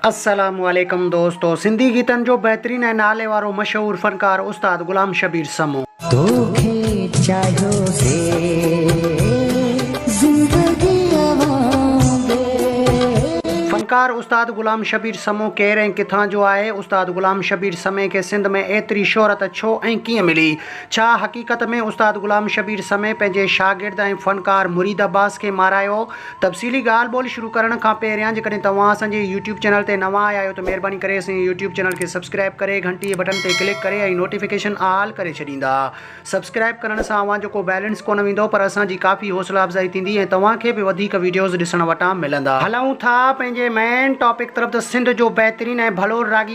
السلام عليڪم دوستو سنڌي گيتن جو بهترين ۽ نالي وارو مشهور فنڪار استاد غلام شبير سمو. توکي چاهيو سي زندگيء وانگي. فنڪار استاد غلام شبير سمو ڪير ۽ ڪٿان جو آهي؟ استاد غلام شبير سمي کي سنڌ ۾ ايتري شهرت ڇو ۽ ڪيئن ملي؟ ڇا حقيقت ۾ استاد غلام شبير سمي پنهنجي شاگرد ۽ فنڪار مريد عباس کي مارايو؟ تفصيلي ڳالهه ٻولهه شروع ڪرڻ کان پهريان جيڪڏهن توهان اسان جي يوٽيوب چينل تي نوان آيا آهيو ته مهرباني ڪري اسان جي يوٽيوب چينل کي سبسڪرائب ڪري گهنٽي بٽن تي ڪلڪ ڪري ۽ نوٽيفڪيشن آل ڪري ڇڏيندا سبسڪرائب ڪرڻ سان اوهان جو ڪو بيلنس ڪونه ويندو پر اسان جي ڪافي حوصلا افزائي ٿيندي ۽ توهان کي به وڌيڪ وڊيوز ڏسڻ وٽان ملندا. هلون ٿا پنهنجي مين ٽاپڪ طرف ته سنڌ جو بهترين ۽ ڀلو راڳي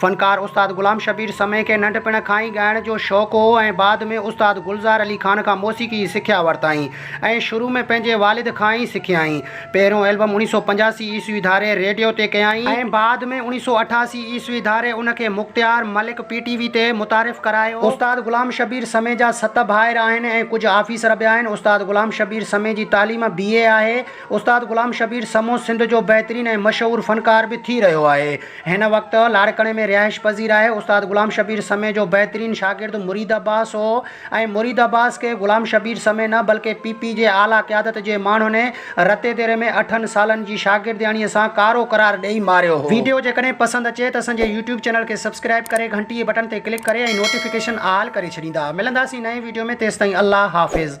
فنڪار استاد غلام شبير سمي کي ننڍپڻ کان ئي ڳائڻ جو شوق هو ۽ بعد ۾ استاد گلزار علي خان کان موسيقي جي سکيا ورتائين ۽ شروع ۾ پنهنجي والد کان ئي سکيائين. پهريون البم اڻيهه سؤ پنجاسي عيسوي ڌاري ريڊيو تي ڪيائين ۽ بعد ۾ اڻيهه سؤ اٺاسي عيسوي ڌاري ان کي Mukhtiar Malik P T V تي متعارف ڪرايو. استاد غلام شبير سمي جا ست ڀائر آهن ۽ ڪجهه آفيسر به آهن. استاد غلام شبير سمي جي تعليم بي اي آهي. استاد غلام شبير سمو سنڌ جو بهترين ۽ مشهور فنڪار به ٿي رهيو آهي. هن وقت لاڙڪاڻي ۾ رهائش پذير آهي. استاد غلام شبير سمي جو بهترين شاگرد مريد عباس هو ۽ مريد عباس کي غلام شبير سمي نه بلڪه پي پي جي اعليٰ قيادت جي ماڻهن رتي ديري ۾ اٺن سالن جي شاگردياڻيء سان ڪارو قرار ڏئي ماريو هو. ويڊيو جيڪڏهن پسند اچي ته اسان جي يوٽيوب چينل کي سبسڪرائب ڪري گهنٽيء بٽڻ تي ڪلڪ ڪري ۽ نوٽيفڪيشن آل ڪري ڇڏيندا. ملنداسين نئين ويڊيو ۾ تيستائين الله حافظ.